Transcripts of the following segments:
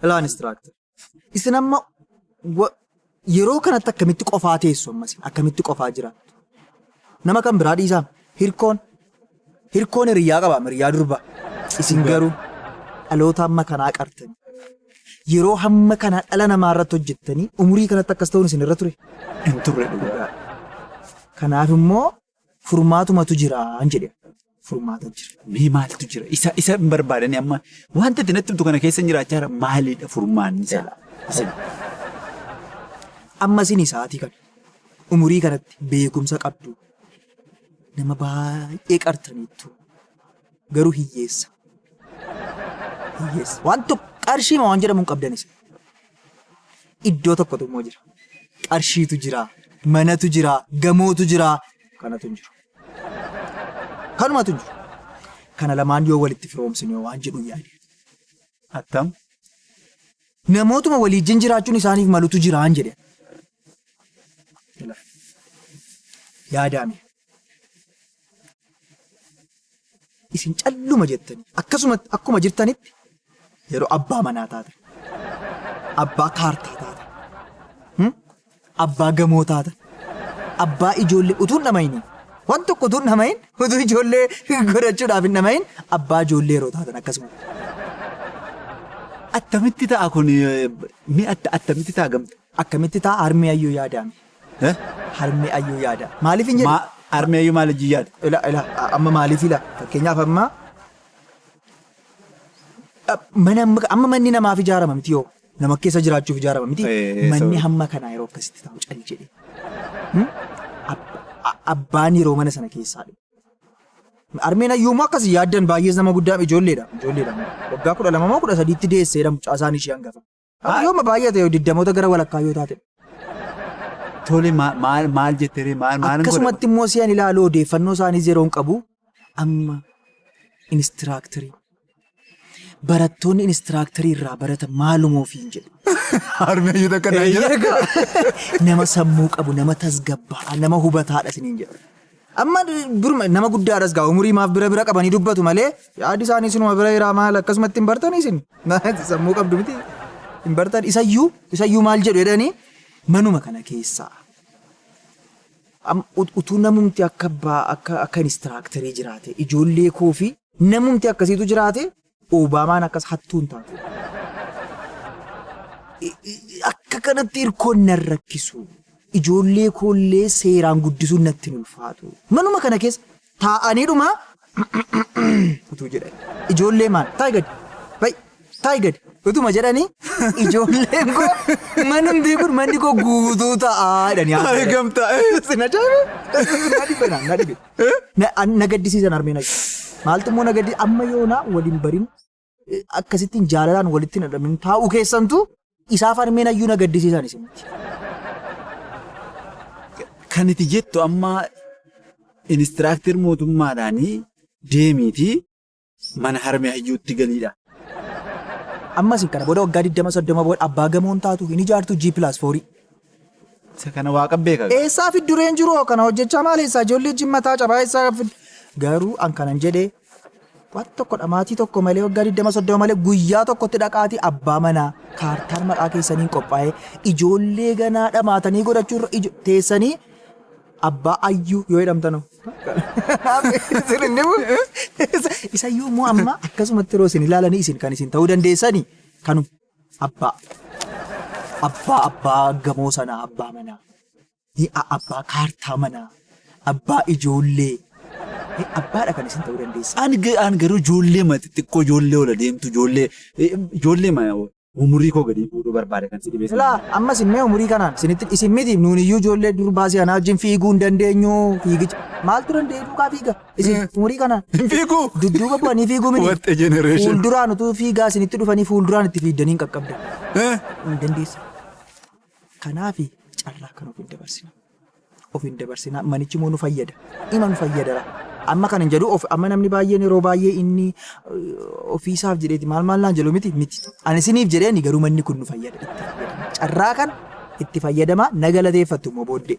Hello instructor. Isin amma wa- yeroo kanatti akkamitti qofaa teessu ammas akkamitti qofaa jiraattu? Nama kan biraa dhiisaan hirkoon Hirkoon hiriyyaa qaba miriyyaa durba isin garuu dhaloota amma kanaa qartani yeroo hamma kanaa dhala namaa irratti hojjettanii umurii kanatti akkas ta'uun isin irra ture hin turre dhugaa kanaaf immoo furmaatumatu jira an jedhe furmaata jira. Mee maaltu jira? Isa isa hin barbaadani amma wanta itti natti himtu kana keessa hin jiraachaa jira maalidha furmaanni isaa? Isin amma isin sa'aatii kana umurii kanatti beekumsa qabdu Nama baay'ee qartaniittu. Garuu hiyyeessa. Hiyyeessa. Waan tokko qarshiima waan jedhamu hin qabdanis. Iddoo tokkotu immoo jira. Qarshiitu jira. Manatu jira. Gamootu jira. Kanatu hin jiru. Kanumatu hin jiru. Kana lamaan yoo walitti firoomsine waan jedhu yaade. Attam? Namootuma waliijjin jiraachuun isaaniif malutu jiraan jedhe. Yaadaame. Isin calluma jettanii akkasuma akkuma jirtanitti yeroo abbaa manaa taatan, abbaa kaartaa taatan, hmm? Abbaa gamoo taata. Abbaa ijoollee utuu hin dhama'inii. Waan tokko utuu hin dhama'in utuu ijoollee godhachuudhaaf hin dhama'in abbaa ijoollee yeroo taatan akkasuma. Attamitti ta'a kun mi attamitti ta'a gamta? Akkamitti ta'a harmee ayyuu yaadaami. Harmee ayyuu yaada. Maaliif hin jedhu? Harmee ayyuu maal ijji yaada? Ila ila amma maaliif ila fakkeenyaaf amma mana amma manni namaaf ijaarama miti yoo Nama keessa jiraachuuf ijaarama miti. Eh, eh, Manni sababa. hamma kanaa yeroo akkasitti ta'u cal jedhe. Hmm? Ab- a- Abbaan yeroo mana sana keessaa dhufe. Armeen ayyuumoo akkas yaaddan baay'ee nama guddaa ijoolleedha. Ijoolleedha. Waggaa kudha lama moo kudha sadiitti deesseedha mucaa isaanii ishee hangafa. Amma yooma baay'ee ta'e diddamoota gara walakkaa yoo taate. Tole ma- maal maal jettere maal maal Akkasumatti immoo si'an ilaalu odeeffannoo isaanii zeroon qabu. Amma inistiraaktarii. Barattoonni inistiraaktarii irraa baratan maaluma ofiin jedhu. Harmee iyyuu takka naan jedha. Egaa nama sammuu qabu, nama tasgabbaa'aa, nama hubataadha isiniin jedha. Amma duruma nama guddaadhas gaa umurii maaf bira bira qabanii dubbatu malee yaadi isaanii sinuma bira jiraa maal akkasumatti hin bartanii isin. Sammuu qabdu miti hin bartan isayyuu isayyuu maal jedhu jedhanii manuma kana keessaa Amma utuu namumti akka abbaa, akka, akka instructor jiraatee, ijoollee koo fi namumti akkasiitu jiraatee, Obamaan akkas hattuu hin taatu. Akka kanatti irkoon nan rakkisu. Ijoollee koollee seeraan guddisuun natti hin ulfaatu. Manuma kana keessa Taa'aniidhuma utuu jedhanii. Ijoollee maal? Taa'i gadi. Ba'i. Taa'i gadi. Utuma jedhanii ijoolleen koo manumti kun manni koo guutuu ta'aa jedhanii haasa'aa jiran. Argam taa'e. Sin ajaa'ibe. Na dhibe na na dhibe. Na- an- Na gaddisiisan harmeen ajaa'ibe. Maaltu immoo na gaddisiisa amma yoonaa waliin barin akkasittiin jaalalaan walitti nadhamin taa'uu keessantu isaaf harmeen hayyuu na gaddisiisan isinitti. Kan itti jettu amma inistiraaktir mootummaadhaan deemiitii mana harmee hayyuutti galiidha. Ammas kana booda waggaa 20-30 booda abbaa gamoon taatu hin ijaartu G plus 4. Isa kana waaqa beeka. Eessaa fiddureen jiru kana hojjechaa maal eessaa ijoollee jimmataa cabaa eessaa garuu an kanan jedhee Waan tokko dhamaatii tokko malee waggaa 20 30 malee guyyaa tokkotti dhaqaatii abbaa manaa kaartaan maqaa keessaniin qophaa'ee ijoollee ganaa dhamaatanii godhachuu irra ijo- teessanii abbaa ayyuu yoo jedhamtanoo. Isin inni bu- Isa iyyuu immoo amma akkasumatti yeroo isin ilaalanii isin kan isin ta'uu dandeessanii kanuma abbaa abbaa abbaa gamoo sanaa abbaa manaa. Hi a abbaa kaartaa manaa, abbaa ijoollee, hi abbaadha kan isin ta'uu dandeessu. Ani ga- ani garuu ijoollee ma xixiqqoo ijoollee ola deemtu ijoollee eh, ijoollee ma umurii koo gadii fuudhuu barbaada kan si dhibeessu. Silaa ammas immee umurii kanaan isinitti isin miti nuun iyyuu ijoollee durbaa si anaa wajjin fiiguu hin dandeenyu fiigicha maaltu danda'ee duukaa fiiga isin umurii kanaan Hin fiiguu! dudduuba bu'anii fiiguu miti What a generation. fuulduraan utuu fiigaa isinitti dhufanii fuulduraan itti fiiddanii hin qaqqabdan Eh? hin dandeessu. Kanaaf carraa kana of hin dabarsina. Of hin dabarsina. Manichi immoo nu fayyada. Ima nu fayyadara. Amma kan hin jedhu of amma namni baay'een yeroo baay'ee inni eh, ofiisaaf jedheeti maal maal naan jedhu miti miti. Ani isiniif jedheeni garuu manni kun nu fayyada. Itti fayyadama. Carraa kana itti fayyadamaa na galateeffattu immoo booddee.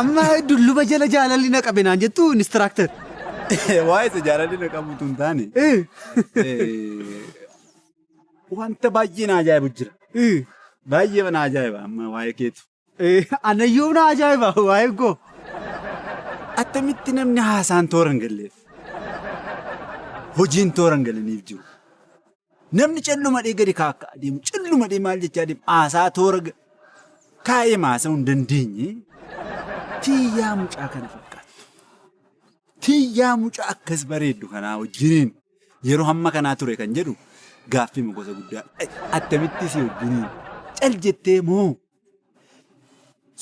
Amma dulluba jala jaalalli na qabe naan jettu inistiraaktar. Waa'ee isa jaalalli na qabutu hin taane. Wanta baay'ee na ajaa'ibu jira. Baay'ee na ajaa'iba amma waa'ee keetu. Anayyuu na ajaa'iba waa'ee koo. Attamitti namni haasaan toora hin galleef. Hojiin toora hin galaniif jiru. Namni callumadhee gadi kaakka adeemu callumadhee maal jechaa adeemu haasaa toora kaa'ee haasa'uu hin dandeenye. Tiyyaa mucaa kana fakkaatu. Tiyyaa mucaa akkas bareeddu kanaa wajjiniin. yeroo hamma kanaa ture kan jedhu gaaffiima gosa guddaa dha. Attamitti si wajjiniin cal jettee moo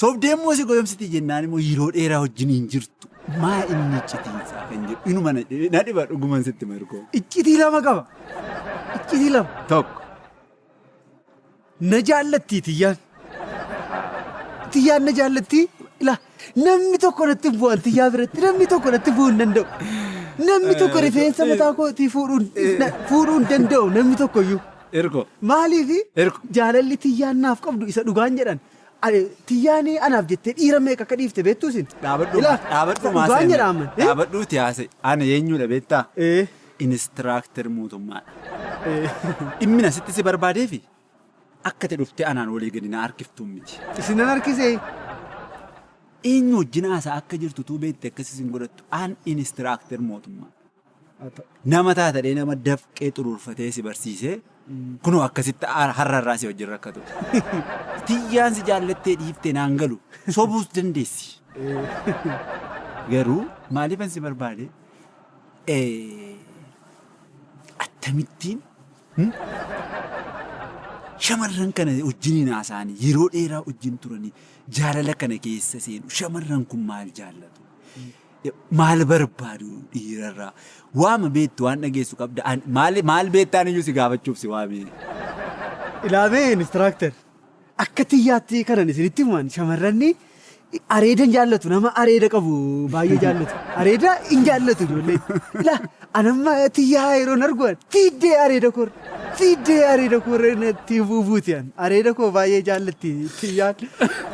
sobdee immoo si goyomsitii jennaan immoo yeroo dheeraa wajjiniin jirtu maa inni iccitiin isaa kan jedhu inuma na dhibe na dhiba dhuguman sitti hima hirkoo. Iccitii lama qaba. Iccitii lama. Tokko. Na jaallattii tiyyaan. Tiyyaan na jaallattii. Ilaa namni tokko natti hin bu'an tiyyaa biratti namni tokko natti bu'uu hin danda'u. Namni tokko rifeensa mataa kootii fuudhuu hin- na- fuudhuu hin danda'u namni tokko iyyuu. Ergo. Maaliifi Ergo. jaalalli tiyyaan naaf qabdu isa dhugaan jedhan. Ani- Tiyyaan anaaf jettee dhiira meeqa akka dhiifte beektuu isin? Dhaabadhuu Ilaa, dhaabadhuu dhugaan maasee. jedha amma. Eh? Dhaabadhuu tiyaase. Ani eenyudha beektaa? Eh. Instructor mootummaa dha. Dhimmin asitti si barbaadeefi akka ati dhuftee anaan olii gadi na harkiftuun miti. Isin nan harkise? Eenyu wajjin haasa'aa akka jirtu utuu beekte akkasii sin godhattu an instructor mootummaa. Nama taatadhee nama dafqee xuruurfatee si barsiisee kunoo akkasitti har- har'arraa si wajjin rakkatu. Tiyyaan si jaallattee dhiiftee naan galu sobuus dandeessi. Garuu maaliifan si barbaade Attamittiin shamarran kana wajjiniin haasa'anii yeroo dheeraa wajjin turanii jaalala kana keessa seenu shamarran kun maal jaallatu? Maal barbaadu dhiirarraa? Waama beektu waan dhageessu qabda. Maal beektaan iyyuu si gaafachuuf si waamee. Ilaamee inistiraaktar. Akka tiyyaatti kanan isinitti himu ani shamarranni areeda hin jaallatu nama areeda qabu baay'ee jaallatu areeda hin jaallatu ijoollee la anamma tiyyaa yeroon argu ani, tiiddee areeda koor tiiddee areeda koor natti buubuuti ani areeda koo baay'ee jaallatti tiyyaan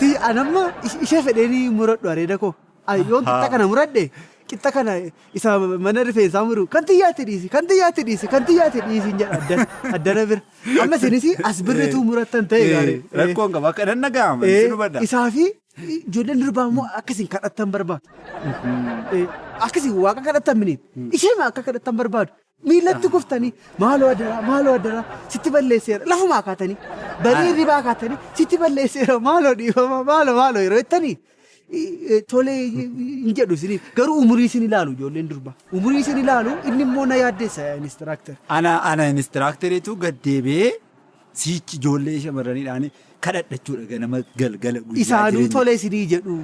tiyya anamma ish- ishee fedheenii muradhu areeda koo Ani yoon qixxa kana muradhe, qixxa kana isa mana rifeensaa muru, kan tiyyaa itti dhiisi, kan tiyyaa itti dhiisi, kan tiyyaa itti dhiisiin jedha addana, addana bira. Amma isinis as birrituu murattan ta'e gaarii. Eh, Rakkoon qaba. Akka nan dhaga'ama. Eh, Sin hubadha. Isaa fi ijoolleen durbaa immoo akka isin kadhattan barbaadu. Eh, Akka isin waaqa kadhattan miniin. Isheen akka kadhattan barbaadu. Miillatti kuftanii maaloo adaraa maaloo adaraa sitti balleesseera lafumaa kaatanii barii hirribaa kaatanii sitti balleesseera maaloo dhiifama maaloo maaloo yeroo jettanii eh, tolee hin jedhu isiniif garuu umurii isin ilaalu ijoolleen durbaa umurii isin ilaalu inni immoo na yaaddeessa yaa inistiraaktar. Ana ana inistiraakteriitu gad deebi'ee siichi ijoollee shamarraniidhaan kadhadhachuudha ganama galgala guyyaa Isaanuu jireenya. tolee isinii jedhu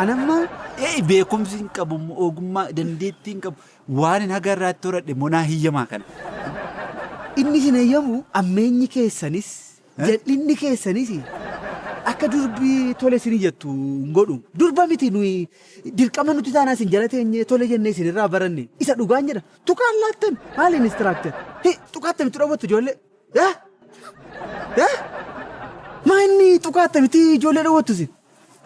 anamma Ee, beekumsi hin qabu ogummaa dandeettii hin qabu Waanin haga irraatti horadhe immoo naa hiyyamaa kana. Inni isin heyyamu ammeenyi keessanis, jal'inni keessanis akka durbi tole isinii jettu hin godhu. Durba miti nuyi dirqama nutti taanaan isin jala teenyee tole jennee isin irraa baranne. Isa dhugaan jedha. Tuqaan laattan maali instructor? Hi, tuqaa attamitti dhowwattu ijoollee? Yaa? Yaa? Maa inni tuqaa attamitti ijoollee dhowwattu isin?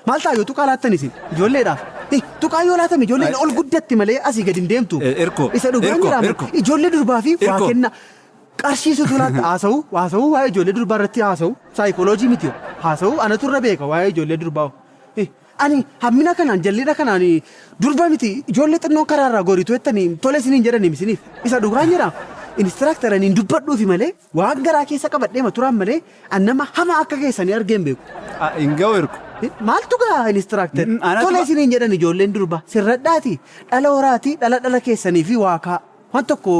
Maal ta'a yoo tuqaa laattan isin ijoolleedhaaf? Eh, Tuqaa yoo laatame ijoolleen ol guddatti malee asii gad hin deemtu. Eh, Irko, Isa dhugaa Irko, jedhamu Irko. ijoollee durbaa fi waa Irko. kenna. Qarshii suutu laatta haasa'u haasa'u waa'ee ijoollee durbaa irratti haasa'u saayikooloojii miti haasa'u anatu irra beeka waa'ee ijoollee durbaa. Eh, Ani hammina kanaan jalliidha kanaan eh, durba miti ijoollee xinnoon karaa irraa goriitu jettanii tole isiniin jedhanii isiniif isa dhugaa jedhamu. Inistiraaktaraniin dubbadhuufi malee Waan garaa keessa qabadheema turaan malee an nama hamaa akka keessanii argee hin beeku. Ah, Hin ga'u hirku. Maaltu gaa inistiraaktar? Mm, anatu Tole ba- isiniin jedhan ijoolleen durbaa. Sirradhaati, dhala horaati, dhala dhala keessanii fi waakaa. Waan tokko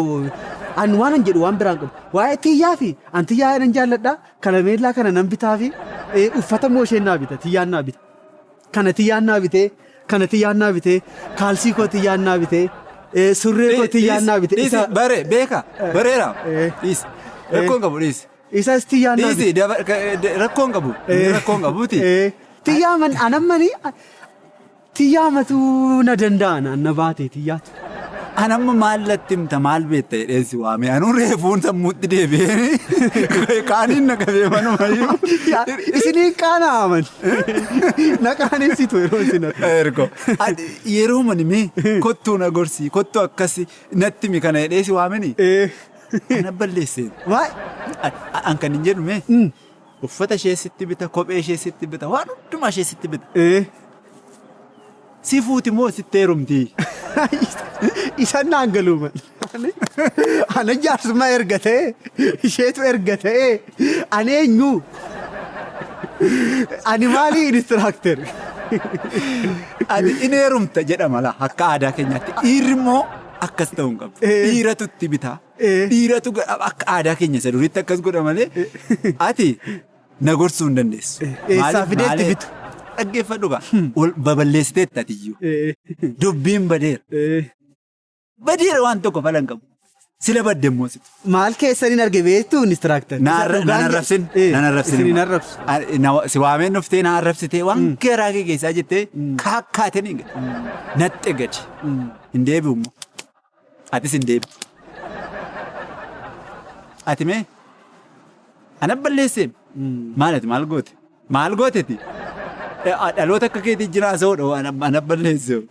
an waan an jedhu waan biraan qabu. Waa'ee tiyyaa fi an tiyyaa nan jaalladha. Kalameellaa kana nan bitaa fi eh, uffata immoo isheen naa bita, tiyyaan naa bita. Kana tiyyaan naa bite, kana tiyyaan naa bite, kaalsii koo tiyyaan naa bite, eh, surree koo tiyyaan naa bite. Dhiisi, Isa, bare, beeka, bareera. Eh. Dhiisi. Rakkoo hin qabu, dhiisi. isas tiyyaan naa Dhiisi, bite. daba- ka- de- rakkoo hin qabu. Eh, Rakkoo hin qabuuti. eh, Tiyyaa man, anammani, tiyyaa matuu na danda'an, anna baate tiyyaatu. An amma maal natti himta maal beekta jedheen si waame anuu reefuun sammuutti deebi'ee kaaniin na qabee manuma iyyuu. Isinii qaana aman. Naqaanis situ yeroo isin hatta. Ergo ati yeroo mani mee kottuu na gorsii kottuu akkasi natti himi kana jedhee si waamini ana balleesseen. Waay. An kan hin jedhu mee uffata ishee sitti bita kophee ishee sitti bita waan hundumaa ishee sitti bita. Si fuuti moo sitti heerumti? Isan naan galuu mal. Ana jaarsummaa erga ta'e isheetu erga ta'e ani eenyu? Ani maalii inistiraakter? Ati in heerumta jedhama laa akka aadaa keenyaatti. Dhiirri immoo akkas ta'uu hin qabu. Eh. Dhiiratu itti bitaa. Eh. Dhiiratu ga- akka aadaa keenya isa duriitti akkas godha malee ati Na gorsuu hin dandeessu. Eessaa fideetti bitu? Dhaggeeffadhu kaa. Ol baballeessiteetti atiyyuu. Dubbiin badeera. Badeera waan tokko falan qabu. Sila badde immoo situ. Maal keessan hin arge beektu inistiraaktar. Nan arrabsin. Nan arrabsin. Isin hin arrabsu. Si waameen dhuftee na arrabsitee waan garaa kee keessaa jettee kaakkaateen hin gadi. Naxxe gadi. Hin deebi'u immoo. Atis hin deebitu. Ati mee ana balleesseem maal ati maal goote maal gooteti dhaloota akka keetii jiraa soodho ana balleesseem.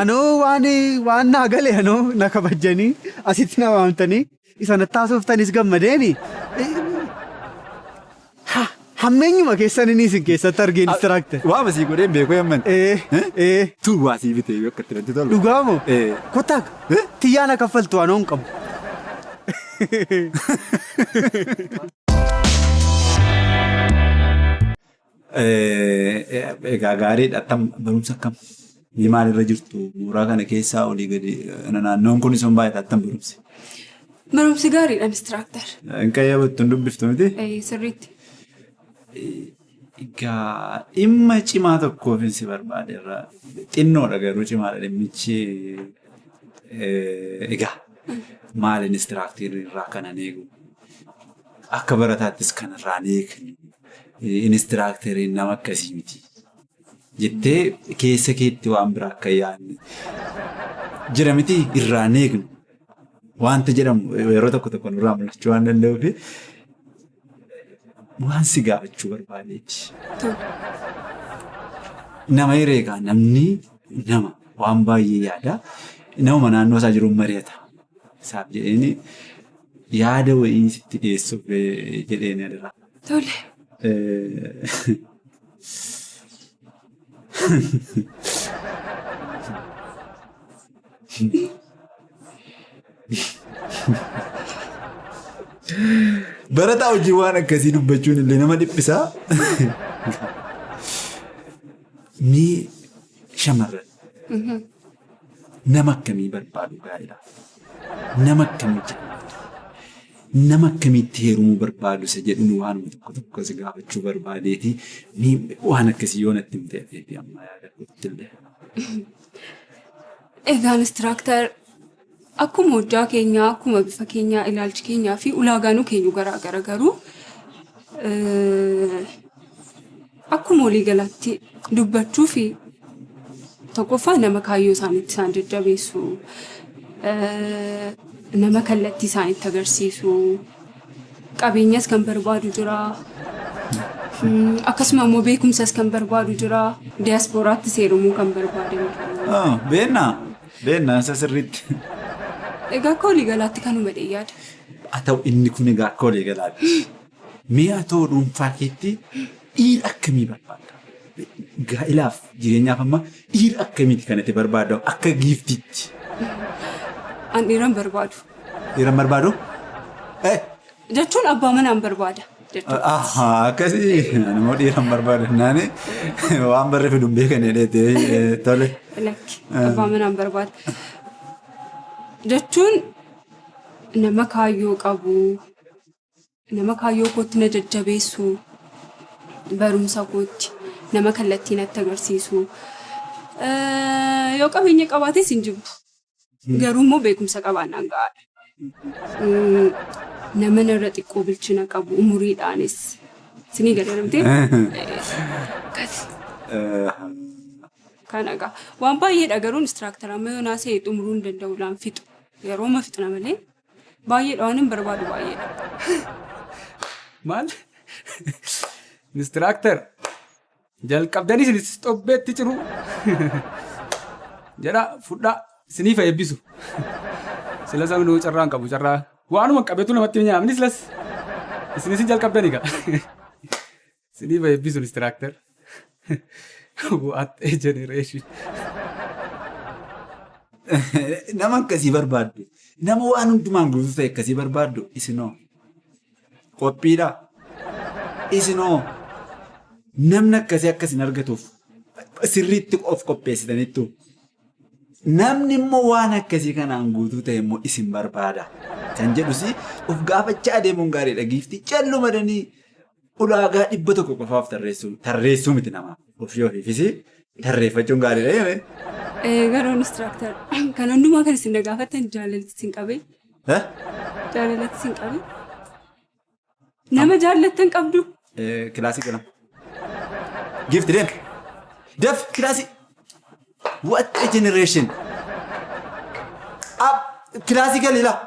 Anoo waan waan naa gale anoo na kabajjanii asitti na waamtanii Isa natti haasoftanis gammadeeni. Hammeenyuma keessan inni isin keessatti argee inistiraakte. Waa masii godheen beekuu yamman. Ee ee Tuu waa sii bitee yoo akka itti natti tolu. dhugaa moo? Ee. Kottaa Eh? tiyyaana kaffaltu waan hoon qabu. Egaa gaariidha akkam barumsa akkam biyyi maalirra jirtu mooraa kana keessaa olii gadi naannoon kun sun baay'ata akkam barumsi. Barumsi gaariidha inistiraaktar. Hinqayyee battuun dubbiftu miti. Sirriitti. Egaa dhimma cimaa tokkoof si barbaadeerra xinnoodha garuu cimaadha dhimmichi egaa maal inistiraaktiirri irraa kanan eegu. Akka barataattis kanarraa ni eegna. Inistiraakteriin nama akkasii miti. Jettee keessa keetti waan biraa akka yaadne jira miti irraa ni eegnu. Wanta jedhamu yeroo tokko tokko nurraa mul'achuu waan danda'uuf waan si gaafachuu barbaadeeti. Nama hireegaa namni nama waan baay'ee yaada. Nama naannoo isaa jiruun mari'ata. Isaaf jedheenii yaada wayiin sitti dhiyeessuuf jedheen adaraa. Tole. Barataa hojii waan akkasii dubbachuun illee nama dhiphisaa. Mee shamarran Nama akkamii barbaadu gaa'elaaf? Nama akkamii jaallattu? Nama akkamiitti heerumuu barbaadu isa jedhu nu waanuma tokko tokko si gaafachuu barbaadeeti waan akkasii yoo natti hin ta'eefi amma yaada kootti illee. Egaa inistiraaktar Akkuma hojjaa keenyaa, akkuma bifa keenyaa, ilaalchi keenyaa fi ulaagaanuu keenyu garaa gara garuu akkuma walii galatti dubbachuu fi tokkoffaa nama kaayyoo isaaniitti isaan jajjabeessu, nama kallattii isaaniitti agarsiisu, qabeenyas kan barbaadu jira, akkasuma immoo beekumsas kan barbaadu jira, diyaaspooraatti seerumuu kan barbaadan jira. Beennaa Beekna isa sirriitti. Egaa akka walii galaatti kan hubadhee yaada. Haa ta'u inni kun egaa akka walii galaatti. Mee haa ta'u dhuunfaa keetti dhiira akkamii barbaadda? Gaa'ilaaf jireenyaaf amma dhiira akkamiiti kan itti barbaadda akka giiftiitti? An dhiiran barbaadu. Dhiiran barbaadu? Eh! jechuun abbaa manaan barbaada jechuudha. Aha akkasii immoo dhiiran barbaada naani waan barri fidu hin beekane dheetee tole. Lakki abbaa manaan barbaada. Jechuun nama kaayyoo qabu, nama kaayyoo kootti na jajjabeessu, barumsa kootti, nama kallattii natti agarsiisu. Eh, Yoo qabeenya qabaates hin jibbu. Garuu immoo beekumsa qabaannaan ga'aadha. Nama narra xiqqoo bilchina qabu umuriidhaanis isinii gadaramtee akkas. Kan egaa waan baay'eedha garuu inistiraaktar amma yoo naasee xumuruu hin danda'u laan fixu yeroo ma fixna malee baay'eedha waan hin barbaadu baay'eedha. Maal? Inistiraaktar. Jalqabdanii isinis xobbeetti ciruu. Jedha fudhaa isiniif eebbisu. Sila sabni carraa hin qabu carraa. Waanuma qabetu namatti nyaamni silas. Isinis hin jalqabdani gaa. Isiniif eebbisu instructor. What a generation. Nama akkasii barbaaddu. Nama waan hundumaan guutuu ta'e akkasii barbaaddu isinoo. Qophiidha? Isinoo namni akkasii akka isin argatuuf sirriitti of qopheessitaniittu. Namni immoo waan akkasii kanaan guutuu ta'e immoo isin barbaada. Kan jedhus of gaafachaa adeemuun gaariidha. Giiftii callumadanii ulaagaa dhibba tokko qofaaf tarreessuu tarreessuu miti namaaf. Ofii ofiifis tarreeffachuun gaariidha. Garuu inistiraaktar kan hundumaa kan isin na gaafatan jaalalli isin qabee. Eh? Jaalalatti sin qabu. Nama jaallattan qabdu. Eh, Kilaasii galan. Gift deem. Daf kilaasii. What a generation. Ab kilaasii gali laa.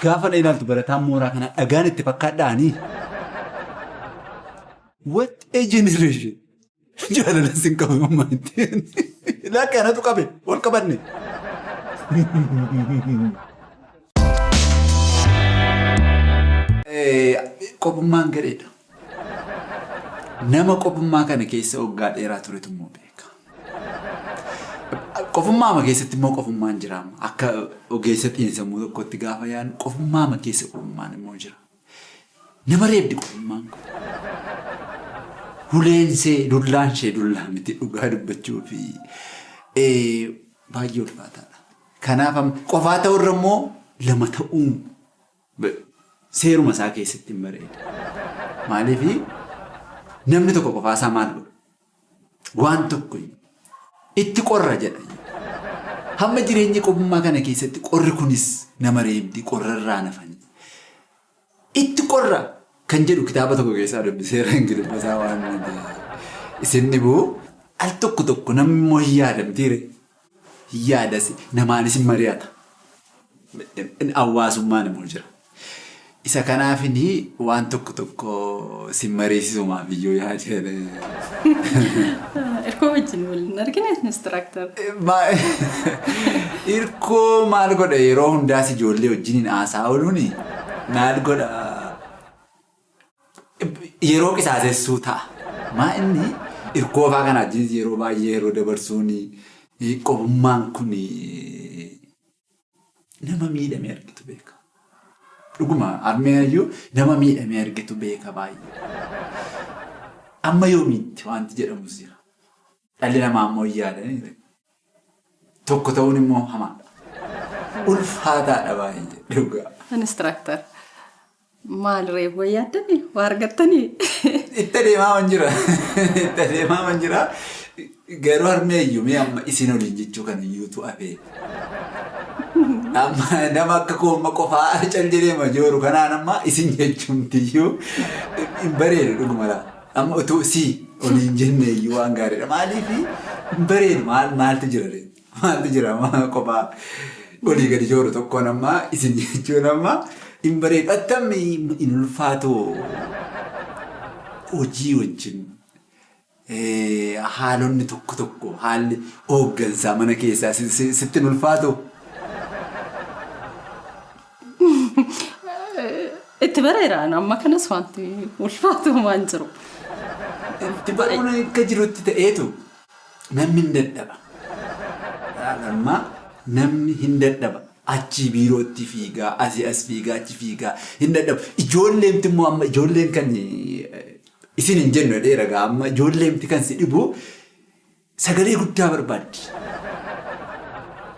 Gaafa na ilaaltu barataan mooraa kana dhagaan itti fakkaadhaanii. What a generation. Jaalala sin qabu amma itti. Laakki anatu qabe wal qabanne. Eh, Qobummaan gadheedha. Nama qobummaa kana keessa waggaa dheeraa turetu immoo beeka. Qofummaama keessatti immoo qofummaan jira. Akka ogeessa xiinsammuu tokkotti gaafa yaadnu qofummaama keessa qofummaan immoo jira. Nama reebdi qorummaan kun. Huleensee dullaan ishee dullaa miti dhugaa dubbachuu fi baay'ee ulfaataadha. Kanaaf qofaa ta'urra immoo lama ta'uun seeruma isaa keessatti hin bareeda. Maaliif namni tokko qofaa isaa maal godha? Waan tokko iyyuu. Itti qorra jedha. Hamma jireenya qubummaa kana keessatti qorri kunis nama reebdi, qorra irraa nafani. Itti qorra kan jedhu kitaaba tokko keessaa dubbiseera Ingiliffasaa waan isin dhibuu. Al tokko tokko namni immoo hin yaadamtiire. yaadasi namaanis hin mari'ata. Hawaasummaan immoo jira. Isa kanaafin waan tokko tokko sin mariisisu maaf iyyuu yaa jedhe. Irkoo wajjin waliin argina inistiraaktar. Irkoo maal godha yeroo hundaas ijoollee wajjiniin haasaa ooluun maal godha? yeroo qisaasessuu ta'a. Maa inni irkoofaa kana wajjinis yeroo baay'ee yeroo dabarsuun qobummaan kun nama miidhamee argitu beeka. Dhuguma harmeen hayyuu nama miidhamee argitu beeka baay'ee. Amma yoomiitti wanti jedhamus jira. Dhalli namaa immoo hin yaadanii ta'e. Tokko ta'uun immoo hamaadha. Ulfaataadha baay'ee dhugaa. Instructor. Maal reef wayii yaaddanii? Waa argattanii? Itti adeemaa waan jira. Itti adeemaa waan jira. Garuu harmee iyyuu mee amma isin waliin jechuu kan iyyuutu hafee. Amma nama akka koomma qofaa cal jedheema jooru kanaan amma isin jechuumti iyyuu hin bareedu dhuguma laata. Amma utuu sii oli hin jenne iyyuu waan gaariidha. Maaliif hin bareedu maal maaltu jira ree? Maaltu jira amma kophaa olii gadi jooru tokkoon amma isin jechuun amma hin bareedu. Attam hin ulfaatu hojii wajjin eh, haalonni tokko tokko haalli hooggansaa mana keessaa si- si- sitti hin ulfaatu. Itti bareeraan amma kanas wanti ulfaatu waan jiru. Itti baruun akka jirutti ta'eetu namni hin dadhaba. Amma namni hin dadhaba. Achii biirootti fiigaa, asii as fiigaa, achi fiigaa hin dadhabu. Ijoolleemti immoo amma ijoolleen kan isin hin jennu jedheera gaa amma ijoolleemti kan si dhibu Sagalee guddaa barbaaddi.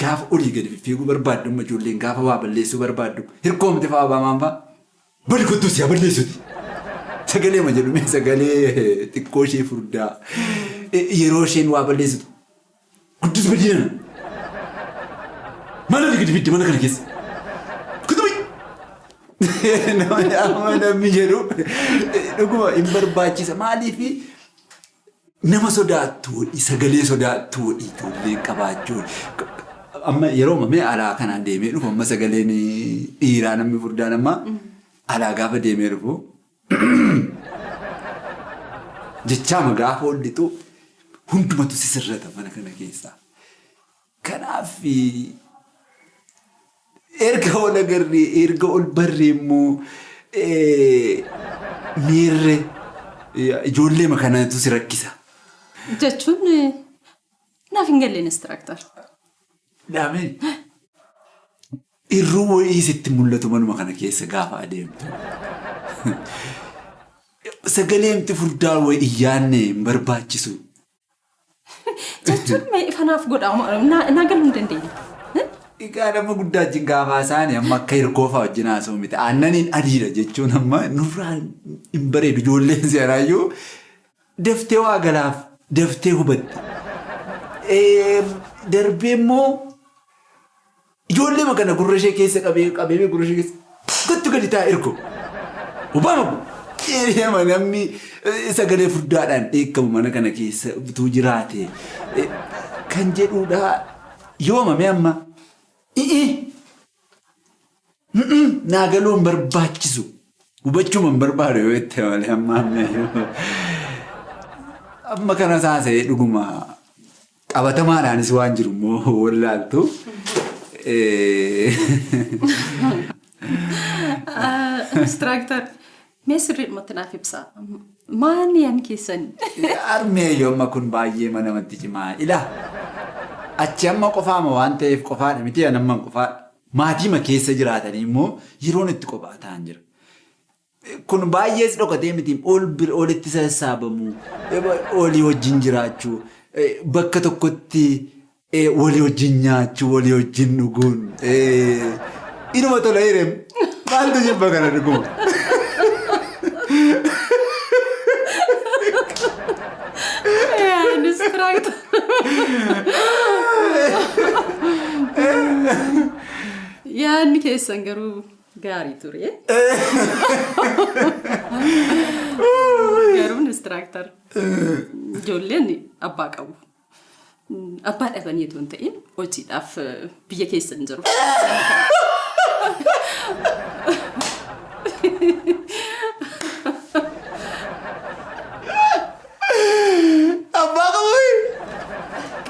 Gaafa olii gadi fiffiiguu barbaaddu amma ijoolleen gaafa waa balleessuu barbaaddu hirkoomte fa'aa Obaamaan fa'aa bali kottuu si haa balleessuti. Sagaleema jedhu mee sagalee xiqqoo ishee furdaa yeroo isheen waa balleessitu guddis badii nana. Maal olii gadi fidde mana kana keessa? Kutubi! Amma namni jedhu dhuguma hin barbaachisa maaliifi Nama sodaattu wodhi sagalee sodaattu wodhi ijoolleen qabaachuun amma yerooma mee alaa kanaan deemee dhufu amma sagaleen dhiiraa namni furdaan amma alaa gaafa deemee dhufu jechaama gaafa ollitu hundumatu sisirrata mana kana keessaa. Kanaaf erga wal agarree, erga ol barree immoo miirri ijoolleema kanatu si rakkisa. Jechuun naaf hin galle instructor. Dhaame irruu wayii sitti mul'atu manuma kana keessa gaafa adeemtu. Sagaleemti furdaa wayii iyyaanne hin barbaachisu. Jechuun mee ifanaaf godha naa galuu hin dandeenye. Egaa nama guddaa wajjin gaafaa isaanii amma akka hirkoofaa wajjin haasa'u miti. Aannaniin adiidha jechuun amma nurraa hin bareedu ijoolleen seeraayyuu daftee waa galaaf daftee hubatti. Darbee immoo Ijoolleema kana gurra ishee keessa qabee qabee gurra ishee keessa gattu gadi taa ergo. Obama kun eeyyama namni sagalee furdaadhaan dheekkamu mana kana keessa utuu jiraate kan jedhuudha yooma mee amma i'i naa galuu hin barbaachisu hubachuuma hin barbaadu yoo itti malee amma amma amma kana saasa'ee dhuguma Qabatamaadhaanis waan jiru immoo wallaaltu. Inistiraaktar mee sirriidhumatti naaf ibsaa. Maal yaan keessan? Armee yoo amma kun baay'ee mana namatti cimaa. Ilaa achi amma qofaama waan ta'eef qofaadha miti an amman qofaadha. Maatiima keessa jiraatanii immoo yeroon itti qophaa ta'an jira. Kun baay'ees dhokatee miti. Olitti sassaabamuu, olii wajjin jiraachuu, bakka tokkotti walii wajjin nyaachuu, walii wajjin dhuguun. Inuma tola hirem. Maaltu jibba kana dhuguma? Distract. Yaadni keessan garuu Gaarii ture. Garuu inistiraaktar ijoolleen abbaa qabu. Abbaa dhabanii otoo hin ta'in hojiidhaaf biyya keessa hin jiru. Abbaa qabu.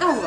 Qabu.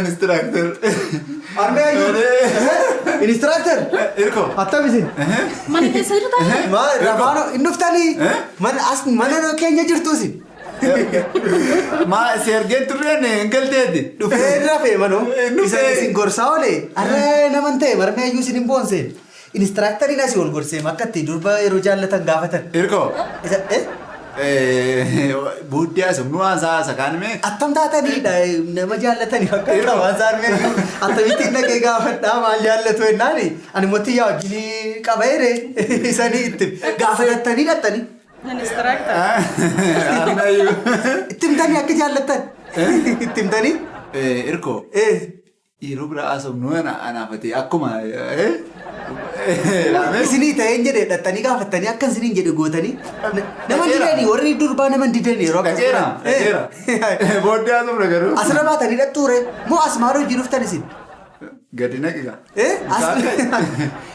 Instructor. Amma ayyuu. Instructor. Irko. Attam isin. Mana keessa jiru taa'e. Maa lafaanoo hin dhuftanii. Mana as mana noo keenya jirtu isin. Maa si argee turreen hin galteetti. Dhufee hin rafee manoo. Isa isin gorsaa oole. Arree naman ta'e marmee ayyuu isin hin boonseen. Inistiraakteriin asii ol gorseem akka itti durba yeroo jaallatan gaafatan. Irkoo. Isa eh? Buuddee asum nu waan saa sa kaan mee. Attam taataniidha nama jaallatanii fakkaata Irra. waan isaan meeyyuu akkamittiin dhaqee gaafadhaa maal jaallatu jennaani ani mootii yaa wajjinii qabeere isanii itti gaafatattanii dhattanii Inistiraaktar. Ammayyuu. itti himtanii akka jaallattan itti himtanii Irkoo. eh Dhiiruu bira haasofnu ana anaafatee akkuma laamee. Isinii ta'een jedhe dhaxxanii gaafattanii akka isiniin jedhe gootanii. Nama hin didani warri durbaa nama hin didani yeroo akkas Dhaqeera godhan. dhaqeera. Booddee haasofna garuu. Asirra baatanii dhaxxuure moo as maaloo jiruuftan isin? Gadi naqiga. Eh, as-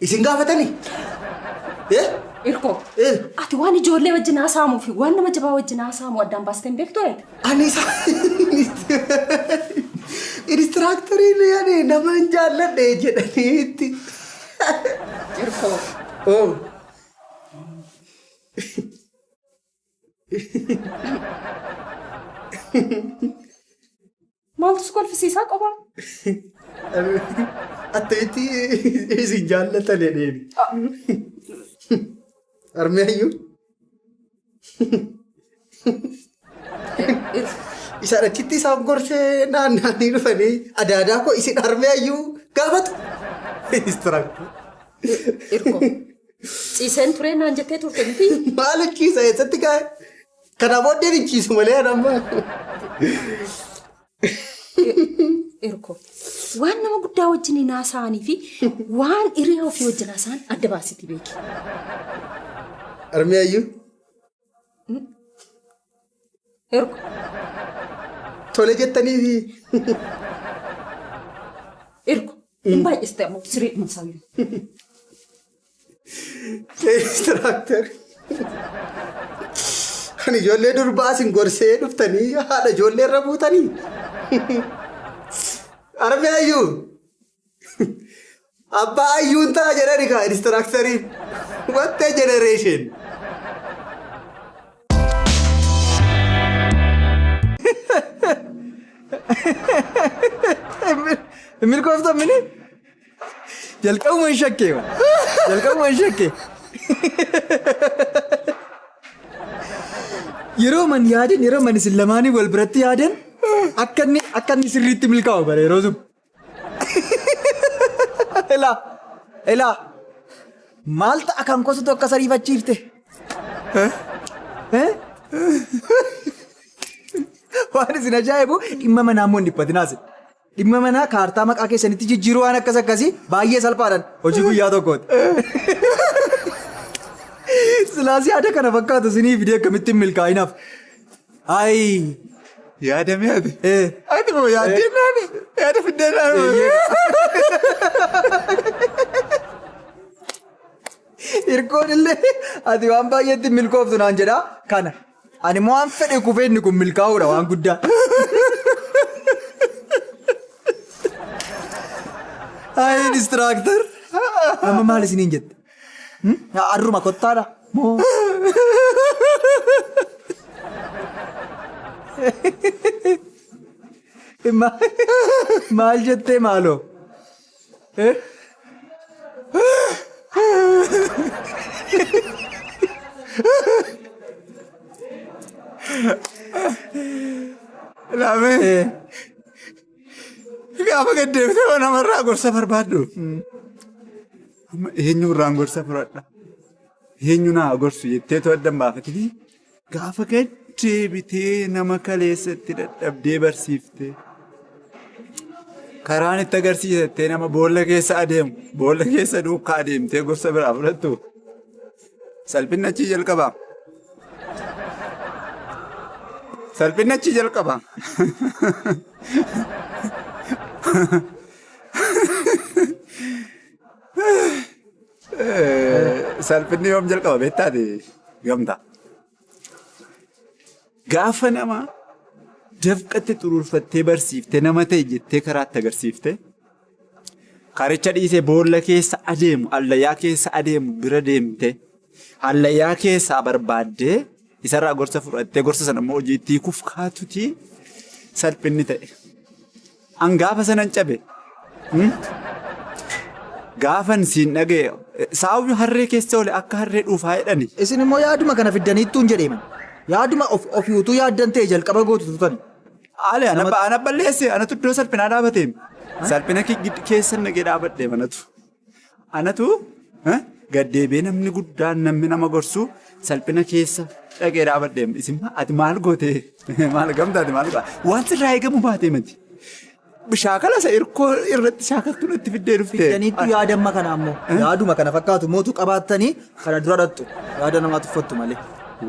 Isin gaafatanii? Eh? Irko, Eh? ati waan ijoollee wajjin haasa'amuu fi waan nama jabaa wajjin haasa'amu addaan baastee hin beektu reeta. Ani isa inistiraakteriin yaade nama hin jaalladhe jedhaniitti. Irko, Oh. Maaltu si kolfisiisaa qophaa? Attamitti isin jaallatan jedheen. Armee hayyuu. Isaan achitti isaan gorsee naanna'anii dhufanii adaadaa koo isin armee hayyuu gaafatu. Istiraakti. Irko. Ciiseen turee naan jettee turte miti. Maaliif ciisa eessatti kaa'e? Kana booddee hin ciisu malee ani amma. Erko waan nama guddaa wajjin hin haasa'anii fi waan hiree ofii wajjin haasa'an adda baasiti beeki. Armee ayyuu Ergu. Tole jettaniifi. Ergu. Hin baay'iste ammoo sirii dhuma saayyu. Seestraaktar. Kan ijoollee durbaa isin gorsee dhuftanii haadha ijoollee irra buutanii. Armeeyyuu. Abbaa ayyuun ta'a jedhani kaa inistiraaktarii. What a generation. Milkoofta mini jalqabuma hin shakkee bar. jalqabuma hin shakkee. Yeroo man yaadan yeroo man isin lamaanii wal biratti yaadan akka inni akka inni sirriitti milkaa'u bara yeroo sun. Ilaa! Ilaa! Maal ta'a kan kosutu akka sariifachiifte? Eh? Eh? Waan isin ajaa'ibu dhimma manaa immoo hin dhiphatinaa isin. Dhimma manaa kaartaa maqaa keessanitti jijjiiruu waan akkas akkasii baay'ee salphaadhaan hojii guyyaa tokkooti. Silaas yaada kana fakkaatu isinii fidee akkamittiin milkaa'inaaf. Ayi. Yaada mi'a ati. Eh. Ati moo yaaddeen naani? Yaada fiddeen naani. Hirkoon illee ati waan baay'eetti milkooftu naan jedhaa kana. Ani moo waan fedhe kufee inni kun milkaa'uudha waan guddaa. Ayi distiraaktar. Amma maal isiniin jette? Arruma kottaadha. Ma- Maal jettee maaloo? Eh? Laamee Eh, gaafa gaddeebitee waan namarraa gorsa barbaaddu. Amma eenyu irraan gorsa fudhadha? Eenyu naa gorsu jettee too adda hin baafatini. Gaafa gad deebitee nama kaleessa itti dadhabdee barsiifte. Karaan itti agarsiisattee nama boolla keessa adeemu, boolla keessa duukaa adeemtee gorsa biraa fudhattu. Salphinni achii jalqaba. Salphinni achii jalqaba. Salphinni yoom jalqaba beektaati gamta. Gaafa nama dafqatti xuruurfattee barsiiftee nama ta'e jettee karaatti agarsiiftee karicha dhiisee boolla keessa adeemu hallayyaa keessa adeemu bira deemtee hallayyaa keessaa barbaaddee isarraa gorsa fudhattee gorsa sana immoo hojiitti hiikuuf kaatuti salphinni ta'e. An gaafa sanan cabe. Gaafan siin dhaga'e. Saawwi harree keessa oole akka harree dhuufaa jedhani. Isin immoo yaaduma kana fiddaniittuun jedheema. Yaaduma of ofii utuu yaaddan ta'e jalqaba gootu tutani. Haale ana ba- ana balleesse anatu iddoo salphinaa dhaabateem. Salphina ke- gid- keessa nagee dhaabadhe manatu. Anatu gad deebi'ee namni guddaan namni nama gorsu salphina keessa dhaqee dhaabadhe isin ati maal gootee maal gamtaate maal goota waan sirraa eegamu baatee miti. Shaakala isa hirkoo irratti shaakaltuun itti fiddee dhufte. Fiddaniitu yaada amma kana ammoo yaaduma kana fakkaatu mootu qabaattanii kana dura dhaqxu yaada namaa tuffattu malee.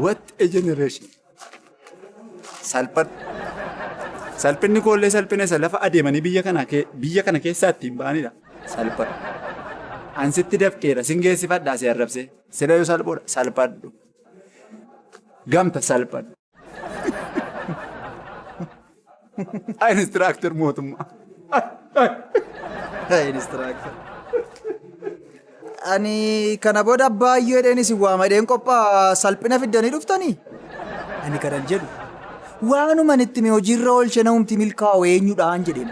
What a generation! salphadhu. Salphinni koollee salphina isa lafa adeemanii biyya kana kee- biyya kana keessaa ittiin ba'anidha. Salphadhu. An sitti dafqeera sin geessifadhaa si arrabsee. Sila yoo salphoodha salphadhu. Gamta salphadhu. Inistiraaktar mootummaa. Inistiraaktar. Ani kana booda abbaa hayyuu jedheen isin waamadheen qophaa salphina fiddanii dhuftanii? Ani kanan jedhu waanuman itti mee hojiirra oolche na'umti milkaa'u eenyudhaan jedheen.